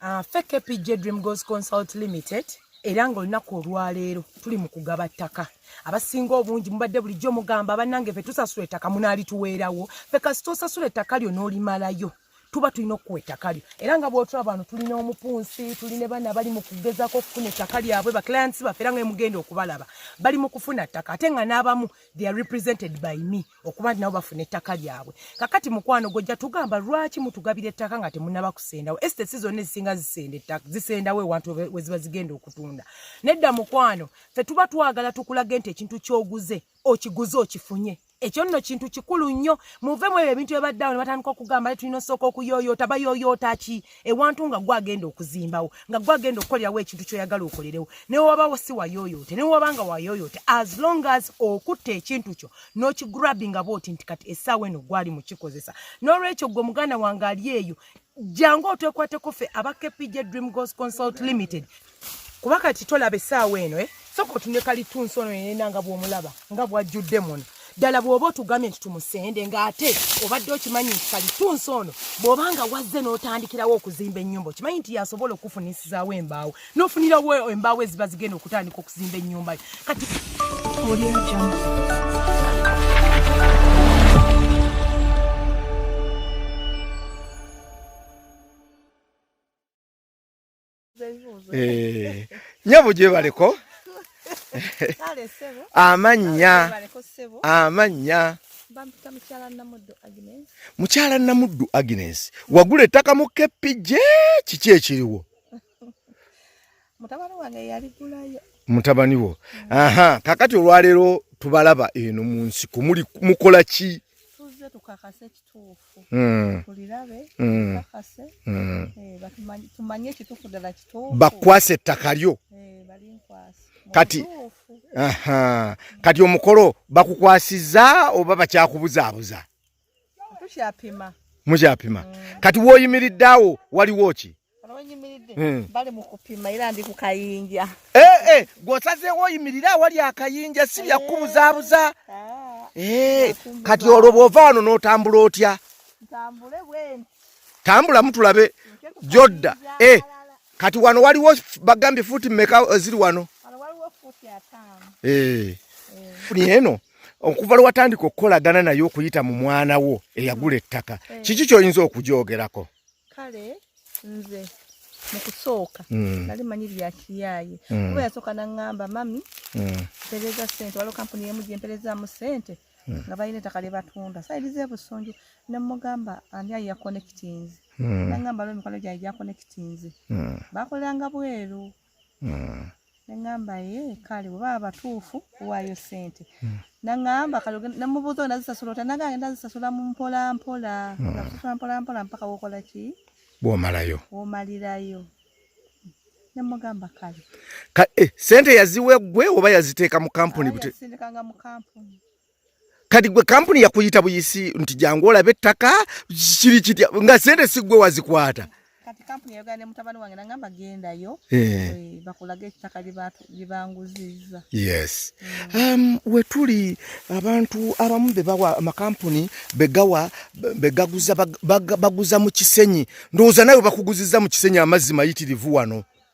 ah, fe kpj dream goes consult limited era ng'olunaku olwaleero tuli mu kugaba ttaka abasinga obungi mubadde bulijjo mugamba bannange fe tusasula ettaka munaalituweerawo fe kasita osasula ettaka lyo n'olimalayo tuba tulina okukuwa ettaka lyo era nga bwotula bano tulina omupunsi tuli ne bana bali mu kugezako okufuna ettaka lyabwe baclients baffe era nga emugenda okubalaba bali mu kufuna ttaka ate nga n'abamu they are represented by me okuba nti nabo bafuna ettaka lyabwe kakati mukwano gwojja tugamba lwaki mutugabira ettaka nga temunaba kusendawo esitesi zonna ezisinga zisenda ettaka zisendawo ewantu weziba zigenda okutunda nedda mukwano fe tuba twagala tukulage nti ekintu kyoguze okiguze okifunye ekyo nno kintu kikulu nnyo muve mu ebyo ebintu ebadde awo ne batandika okugamba le tulina osooka okuyoyoota bayoyoota ki ewantu nga gwe agenda okuzimbawo nga gwe agenda okukolerawo ekintu kyoyagala okolerewo newewabawo si wayoyote newewaba nga wayoyote as long as okutta ekintu kyo nokigrabinga bwoti nti kati esaawa eno gwali mukikozesa nolwekyo gwe muganda wange ali eyo jangu otwekwateko fe aba kpj dream gos consult limited kuba kati tolaba essaawa eno e eh? soka otunde kalitunsi ono yenena nga bwomulaba nga bwajjudde muno ddala bw'oba otugambye nti tumusende ng'ate obadde okimanyi nti kalitunsi ono bw'oba nga wazze n'otandikirawo okuzimba ennyumba okimanyi nti yasobola okukufunisizaawo embaawo n'ofunirawo embaawo eziba zigenda okutandika okuzimba ennyumba yo kati Eh, nyabo gyebaleko amannya amannya mukyala namuddu agnes wagula ettaka mu kepije kiki ekiriwo mutabani wo aha kakati olwaleero tubalaba eno mu nsiko muli mukola ki Mm. Mm. Mm. Eh, bakwasa ettaka lyo eh, kati kati omukolo bakukwasiza oba bakyakubuzaabuza mukyapima kati woyimiridde awo waliwo ki Eh. bali mukupima era ndi kukayinja eh, eh, gwosazeewo oyimirira awali akayinja si byakubuzaabuza ah. kati olwo bwova wano n'otambula otya tambula mutulabe jodda kati wano waliwo bagambye fuuti meka ziri wano eno okuva lwe watandika okukolagana naye okuyita mu mwana wo eyagula ettaka hmm. kiki kyoyinza okugyogerako kale nze mu kusooka mm. nali manyi lya kiyaaye mm. kuba yasooka naŋŋamba mami mm. mpereza ssente waliwo kampuni emu gye mperezaamu ssente nga balina ettaka lye batunda sayiriza ebusunju ne mugamba ani ayi yakonekitinzi naŋŋamba lwo emikwano gyange gyakonekitinzi bakolanga bweru mm. neŋamba ye kale oba abatuufu waayo sente mm. naŋamba kale nemubuuza ona zisasula ota naga agenda zisasula mumpolampola mm. zisasula mpolampola mpaka wokola ki bwomalayo womalirayo nemugamba kale eh, sente yaziwa eggwe oba yaziteeka mu kampuni sindikanga mu kampuni kati gwe kampuni yakuyita buyisi nti jangu olabe ettaka kiri kitya nga sente si gwe wazikwata kati kampuni yayogera ne mutabani wange nangamba gendayo eh. Eh, bakulaga ettaka lyebanguziza yes mm. um, wetuli abantu abamu bebawa amakampuni begawa begaguza baguza mu kisenyi ndowooza nawe bakuguziza mu kisenyi amazzi mayitirivu wano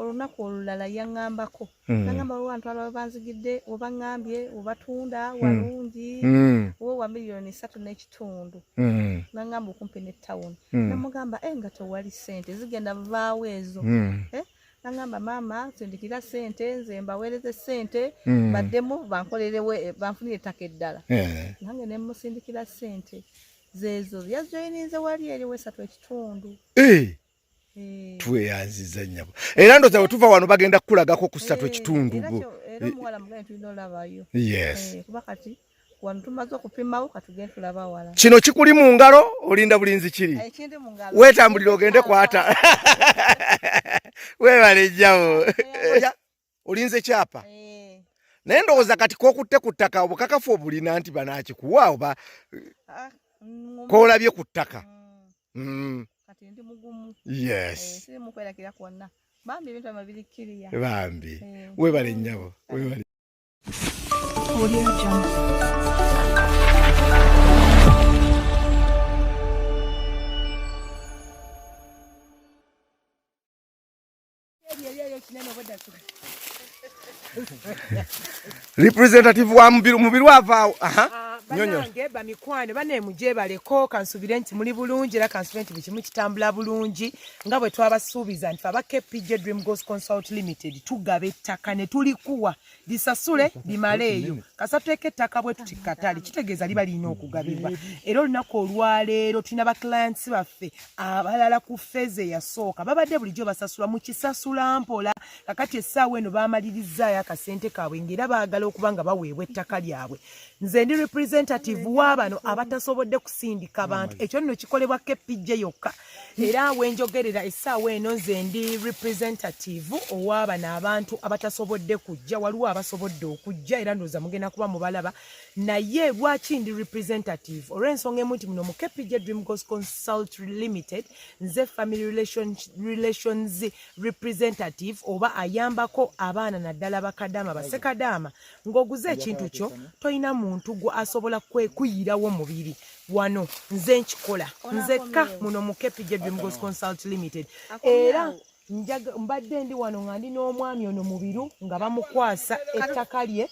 olunaku olulala yaŋŋambako hmm. naŋamba waliwo abantu alaba banzigidde webaŋŋambye webatunda hmm. walungi hmm. we wa miliyoni satu n'ekitundu naŋŋamba okumpi ne tawuni namugamba e eh, nga tewali sente zigenda vaawo ezo eh, naŋamba maama sindikira sente nze mbaweereze sente baddemu bankolerewo eh, banfunire ettaka eddala nange nemusindikira sente zezo yajoyininze wali eriwo esatu ekitundu Eh. tweyanziza nyabo era ndoza wetuva wano bagenda kukulagako kusatu eh, ekitundu bo yes eh, kino kikuli mu ngalo olinda bulinzi kiri wetambulira ogende kwata webale jjabo olinze kyapa eh. naye ndowooza kati kokutte ku ttaka obukakafu obulina nti banakikuwa oba ah, mm, kolabye ku ttaka mm. Mm. yes eh, bambi eh. webale nyabo webale representative wa mubiru mubiru avaawo ah, banange bamikwano banemujebaleko kansubire nti muli bulungi era kansubire nti bukimu kitambula bulungi nga bwe twabasuubiza nti aba kpj dream gos consult limited tugaba ettaka ne tulikuwa lisasule limale eyo kasatuteeka ettaka bwe tuti katale kitegeeza liba lirina okugabibwa era olunaku olwaleero tulina baclients baffe abalala ku feeza eyasooka babadde bulijjo basasula mu kisasula mpola kakati essaawa eno baamalirizaayo akasente kaabwe ngaera baagala okuba nga baweebwa ettaka lyabwe nze ndi representative wa bano abatasobodde kusindika bantu ekyo nno kikolebwa kepijje yokka era wenjogerera essaawa eno nze ndi representative ow'abano abantu abatasobodde kujja waliwo abasobodde okujja era ndooza mugenda kuba mubalaba naye lwaki ndi representative olw'ensonga emu nti muno mu kpj dream gos consult limited nze family relations, relations representative oba ayambako abaana naddala bakadaama basekadaama ng'oguze ekintu kyo tolina muntu gwe asobola kwekuyirawo mubiri wano nze nkikola nzekka muno mu kpj dreamgos consult limited era mbadde ndi wano nga ndi n'omwami ono mubiru nga bamukwasa ettaka lye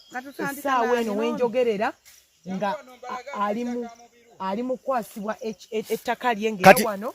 essaawa eno wenjogerera nga alimu ali mukwasibwa ettaka lye ngewano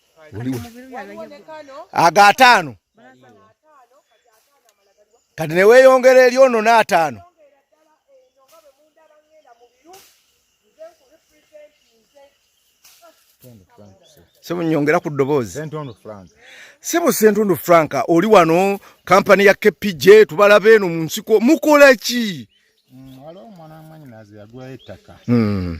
ago ataano kati neweyongera eri ono n'ataano sebunyongera ku ddoboozi sebo sentundu frank oli wano kampani ya kpj tubalabe eno mu nsiko mukola ki mm, waliwo omwana wamwanyinazi yagulayo ettaka mm.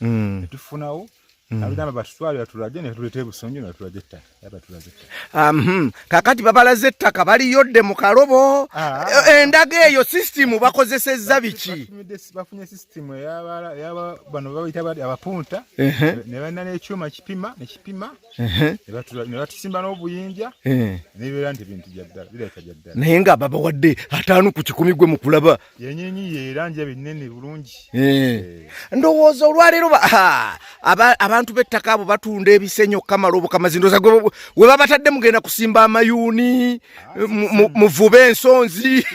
mm. netufunawo mm. abigamba batutwale batulage netuleta ebusonjo netulaga ettaka yabatulaga ettaka um, kakati babalaze ettaka baliyodde mu kalobo ah. e, endaga eyo sisitimu bakozesezza biki bafunye sisitimu bano babaita abapunta nebalina nekyuma kipima nekipima nebatusimba n'obuyinja nebeera nti bintu byaddala birabika byaddala naye nga babawadde ataano ku kikumi gwe mukulaba yenyenyi yeranja binene bulungi eh. ndowooza olwaleero abantu b'ettaka abo batunda ebisenyi okukamala obukamazi ndoza we babatadde mugenda kusimba amayuuni ah, muvube ensonzi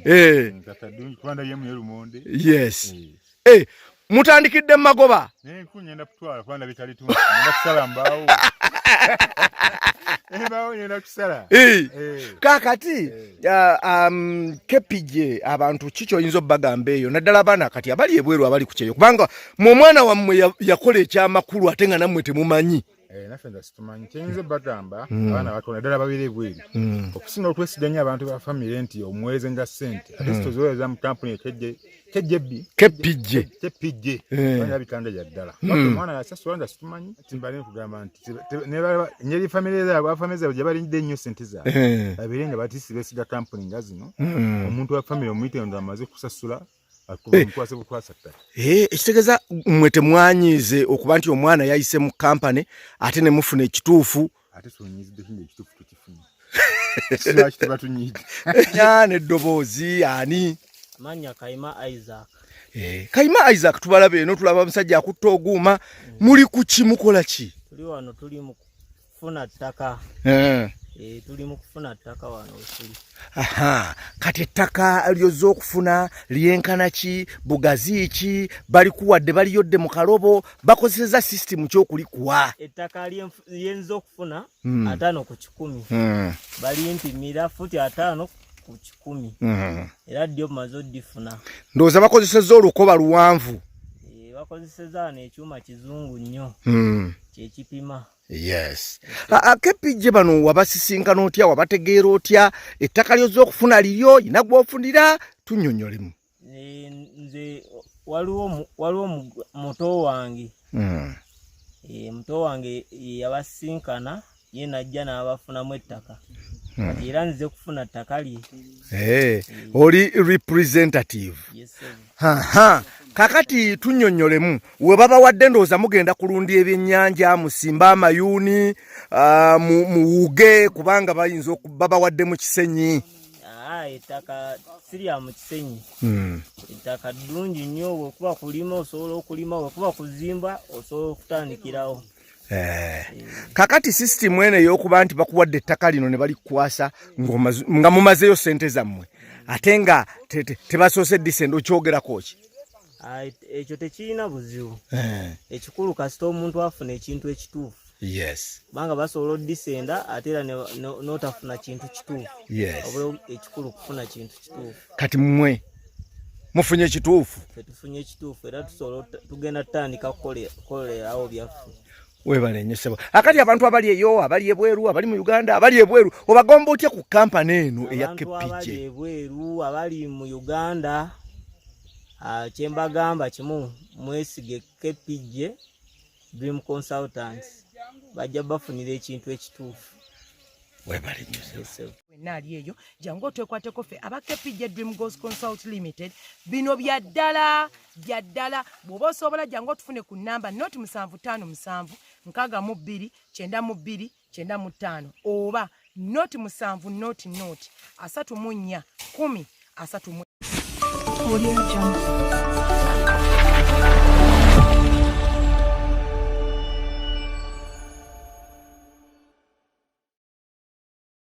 eh. yes eh. Eh, mutandikidde magoba kakati kepije abantu ki kyoyinza obagamba eyo naddala abaana kati abali ebweru abali kukyeyo kubanga mu omwana wammwe yakola ekyamakulu ate nga nammwe temumanyi Eh, naffe nza situmanyi kyenyinza bagamba hmm. abaana batono ddala babeera ebweru hmm. okusinga okwesiganya abantu ba famire nti omuweereza nga sente ate situziweereza hmm. mu kampuni ekejjebikepijje ana bitanda gya ddala omwana yasasula nza situmanyi timbale nkugamba nti nyeri famire zaabwe afamire zaabwe gye balinde ennyo sente zaabwe eh. babeere nga batisi besiga kampuni nga zino omuntu wa famire omuyite nga amaze kusasula Eh. Eh, ekitegeeza mwe temwanyiize okuba nti omwana yayise mu kampany ate ne mufuna ekituufu nyana eddoboozi ani manya kaima isaac eh, kaima isaac tubalaba eno tulaba omusajja akutta oguuma mm. muli kuki mukola ki tuli wano tuli kufuna ttaka eh. Eh, tuli mu kufuna ttaka wano wetuli aha kati ettaka lyozza okufuna lyenkana ki bugazi ki balikuwadde baliyodde mu kalobo bakozeseza sisitimu kyokulikuwa ettaka lyenza okufuna hmm. ataano ku kikumi hmm. balimpimira futi ataano ku kikumi hmm. era ddyo maze oddifuna ndowooza bakozeseza olukoba luwanvu eh, bakozeseza wano ekyuma kizungu nnyo kyekipima yes akepijje bano wabasisinkana otya wabategeera otya ettaka lyozza okufuna liryo yina gwofunira tunyonyolemu eh, nze waliwo waliwo muto wange hmm. eh, muto wange yabasisinkana ye najja n'abafunamu ettaka hmm. era nze kufuna ttaka lye eh, oli representative Aha. kakati tunyonyolemu webabawadde ndowooza mugenda kulunda ebyennyanja musimbe amayuuni ah, muwuge kubanga bayinza babawadde mu kisenyi ah, ettaka sirya mu kisenyi hmm. ettaka ddungi nnyo wekuba kulima osobola okulima wekuba kuzimba osobola okutandikirawo Eh. kakati sisitimu eno eyokuba nti bakuwadde ettaka lino ne balikukwasa nga mumazeeyo sente zammwe ate nga tebasoose disende okyogerako ki ah, ekyo tekirina buzibu eh. ekikulu kasita omuntu afuna ekintu ekituufu yes kubanga basobola odisenda ate era notafuna kintu kituufu yes ekikulu kufuna kintu kati mwe mufunye ekituufu tufunye ekituufu era tusobola tugenda tutandika kukolerawo byaffe webale nyo sebo akati abantu abali eyo abali ebweru abali mu uganda abali ebweru obagomba otya ku kampani eno eya kpj ebweru abali mu uganda ah, kyembagamba kimu mwesige kpj dream consultants bajja bafunira ekintu ekituufu wenna ali eyo jangu otwekwateko ffe aba kpj dream gos consult limited bino bya ddala bya ddala bw'oba osobola jangu otufune ku namba noti musanvu ttaano musanvu nkaaga mu bbiri kyenda mu bbiri kyenda mu ttaano oba noti musanvu noti noti asatu mu nnya kumi asatu mu